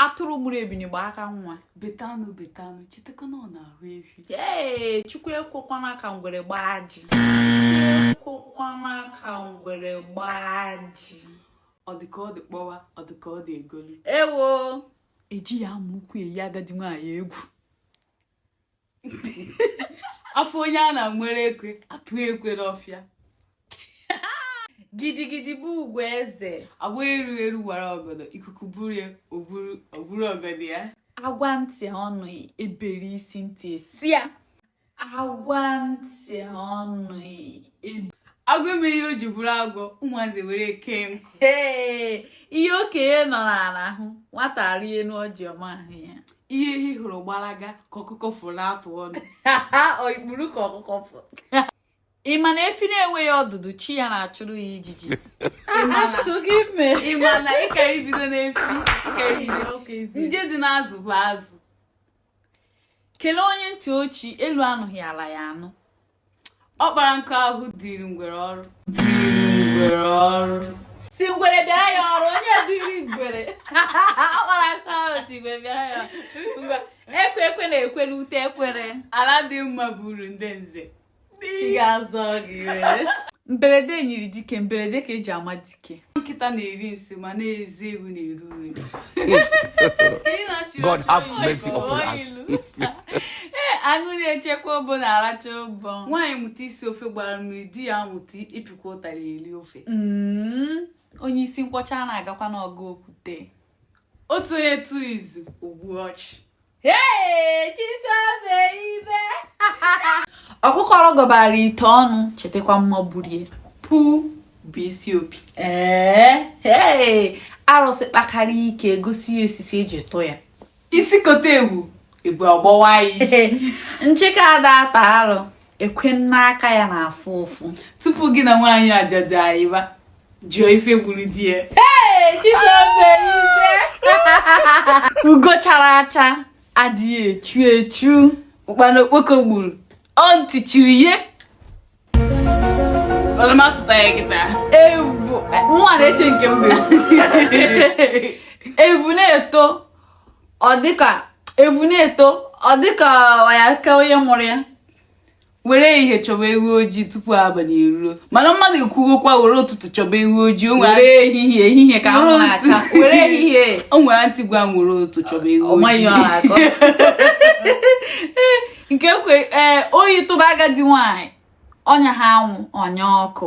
atụrụ mụrụ ebini gba aka nwa beta anụ beta anụ chetakwa na ọ n'ahụ efi ee chukwu ekwekwana ka ngwere gbaa ajị ekwekwana ka ngwere gbaa ajị ọ dị ka ọ dị kpọwa ọ dị ka ọ dị egolu ewo ejighị amụ ukwu eyi agadi nwaanyị egwu a fụ onye a na-enwere ekwe atụ ekwe n'ọfịa gidigidi bụ ugwu eze agba eru eru wara ọgọdọ ikuku buru ya o buru ọgọdọ ya a gwa ntị ọ nụ e bere isi ntị eso ya a gwa ntị ọ nụ e agwọ eme ihe o ji bụrụ agwọ ụmụazị were ya kee nkụ ihe okenye nọ n'ala ahụ nwata rịa enu ọjị ọ ma ahụ ya ihe ehi hụrụ gbalaga ka ọkụkọ fụrụ atụ ọnụ ikpuru ka ọkụkọ fụrụ ị ma na efi na-enweghị ọdụdụ chi ya na-achụrụ ya ijiji ị ma na ị ka ebido n'efi ị ka ebido nje dị n'azụ bụ azụ kelee onye ntị ochi elu anụghị ala ya anụ ọ kpara nkụ ahụhụ dịrị ngwere ọrụ dịrị ngwere ọrụ sị ngwere bịara ya ọrụ onye dịrị ngwere ọ kpara nkụ ahụhụ sị ngwere bịara ya ngwa ekwe ekwe na-ekwe n'ute ekwere ala adị mma bụ uru ndị nze chi ga-azọ gị mberede nyiri dike mberede ka e ji ama dike nkịta na-eri nsị ma na eze ewu na-ere ure God have mercy upon us. aṅụ na-echekwa obo na-aracha ụbọ nwaanyị mụta isi ofe gbara mmiri di ya amụta ịpịkwa ụtara eri ofe mm, onye isi nkwọcha ana agakwa n'ọgụ okwute otu onye tụọ izu o gbuo ọchụ ọkụkọ rọgọbara ite onu chetakwa mma gburu ya pu bụ isi opi ee arụsị kpakarịa ike e gosi ya osisi e ji tụọ ya isi kote ebu ebu ọ gbawa ya isi nshịkọ ada ata arụ ekwe m n'aka ya na-afụ ụfụ tupu gị na nwaanyị ajadu ayịba jụọ ife gburu di ya ugo chara acha adịghị echu echu ụkpana okpoko gburu ọ ntị chiri ya ọ na-asụta ya kịta evu nwa na-eche nke mgbe evu na-eto ọ dịka evu na-eto ọ dịka ọ ya-aka onye mụrụ ya were ihe chọba ewu ojii tupu abalị eruo mana mmadụ ekwugokwa were ụtụtụ chọba ewu ojii were ehihie ehihie ka anwụ na-acha were ehihie o nwere aunty gwa m were ụtụtụ chọba ewu ojii nke kwe ee eh, oyi tụba agadi nwaanyị ọ nyaha anwụ ọ nyaa ọkụ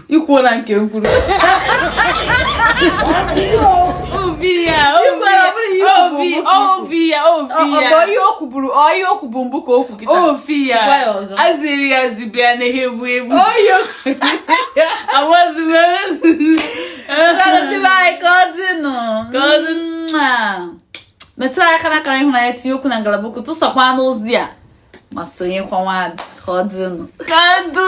i kwuo na nke m kwuru obi ya obi obi ya obi ya ọ bụ ihe o kwuburu ọ ihe o kwubu mbụ ka o kwu kịta obi ya Gwa ya ọzọ. azụ eri azụ ibe ya anaghị ebu ebu oyo awazi ndị be anyị ka ọ dịnụ Ka ọ dị. Mwah. metụ anyị aka n'akara ịhụnanya tinye okwu na ngalaba okwu tụsakwa n'ozi a ma sonyekwa n'ọwa a ka ọ dịnụ kadu